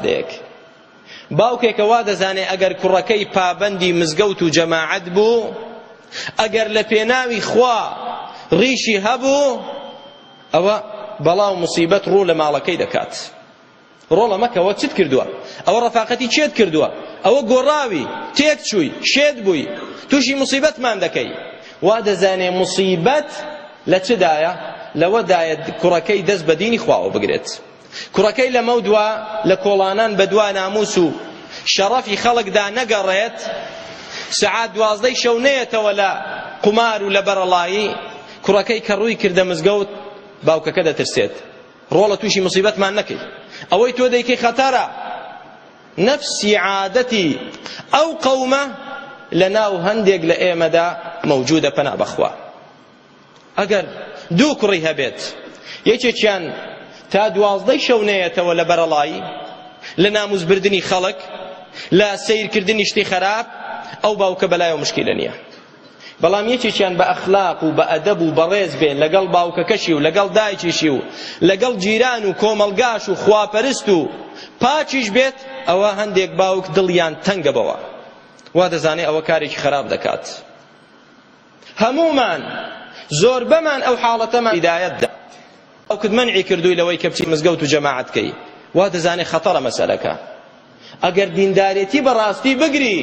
دەیەک باوکێکە وا دەزانێ ئەگەر کوڕەکەی پابەندی مزگەوت و جەماعەت بوو ئەگەر لە پێناوی خوا ڕیشی هەبوو ئەوە بەڵا و مصیبەت ڕوو لە ماڵەکەی دەکات ڕۆڵە مەکەوە چت کردووە ئەوە ڕەفاقەتی چێت کردووە ئەوە گۆڕاوی تێک چووی شێت بووی تووشی مصیبەتمان دەکەی وا دەزانێ مصیبەت لە چدایە لەوەدایە کوڕەکەی دەست بە دینی خواوە بگرێت کوڕەکەی لەمەودوا لە کۆڵانان بەدوا نامووس و شەڕەفی خەڵکدا نەگەڕێت، سەعات دوازدەی شەو نەیەتەوە لە قومار و لە بەرەڵایی، کوڕەکەی کە ڕووی کردە مزگەوت، باوکەکە دەترسێت، ڕۆڵە تووشی موسیبەتمان نەکەی، ئەوەی تۆ دەیکەی خەتەرە. نەفسی عادەتی ئەو قەومە لەناو هەندێک لە ئێمەدا مەوجوودە، پەنا بەخوا. ئەگەر دوو کوڕی هەبێت یەکێکیان تا دوازدەی شەو نەیەتەوە لە بەرەڵایی لە ناموس بردنی خەڵک لە سەیرکردنی شتی خەراپ ئەو باوکە بەلایەوە مشکیلە نییە بەڵام یەکێکیان بە ئەخلاق و بە ئەدەب و بەڕێز بێ لەگەڵ باوکەکەشی و لەگەڵ دایکیشی و لەگەڵ جیران و کۆمەڵگاش و خواپەرست و پاکیش بێت ئەوە هەندێک باوک دڵیان تەنگە بەوە وا دەزانێ ئەوە کارێکی خەراپ دەکات هەموومان زۆربەمان ئەو حاڵەتەمان هیدایەت دا باوکت مەنعی کردووی لەوەی کە بچی مزگەوت و جەماعەت کەی وا دەزانێ خەتەرە مەسەلەکە ئەگەر دیندارێتی بەڕاستی بگری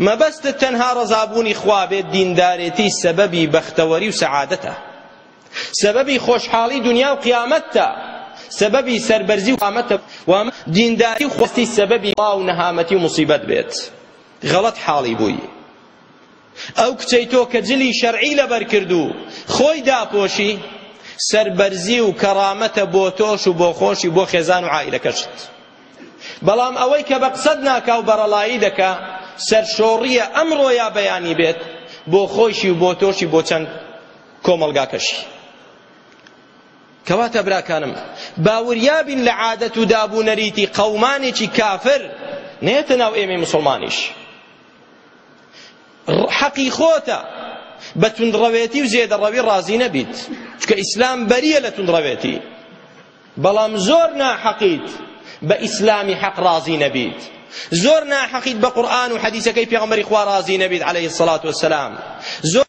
مەبەستت تەنها ڕەزابوونی خوا بێت دیندارێتی سەبەبی بەختەوەری و سەعادەتە سەبەبی خۆشحاڵی دنیا و قیامەتە سەبەبی سەربەرزی و قامەتە و دینداری و خۆستی سەبەبی وا و نەهامەتی و مصیبەت بێت غەڵەت حاڵی بووی ئەو کچەی تۆ کە جلی شەرعی لەبەر کرد و خۆی داپۆشی، سەربەرزی و کەڕامەتە بۆ تۆش و بۆ خۆشی بۆ خێزان و عائیلەکەشت. بەڵام ئەوەی کە بە قسەت ناکا و بەڕەڵایی دەکا، سەرشۆڕییە ئەمڕۆ یا بەیانی بێت بۆ خۆیشی و بۆ تۆشی بۆ چەند کۆمەڵگاکەشی. کەواتە براکانم با وریا بین لە عادەت و داب و نەریتی قەومانێکی کافر نەیەتە ناو ئێمەی موسڵمانیش. حەقی خۆتە بە توندڕەوێتی و زێدەڕەوی ڕازی نەبیت چونکە ئیسلام بەریە لە توندڕەوێتی بەڵام زۆر ناحەقیت بە ئیسلامی حەق ڕازی نەبیت زۆر ناحەقیت بە قورئان و حەدیسەکەی پێغەمبەری خوا ڕازی نەبیت عەلەیهی سەڵات وەسەلام زۆر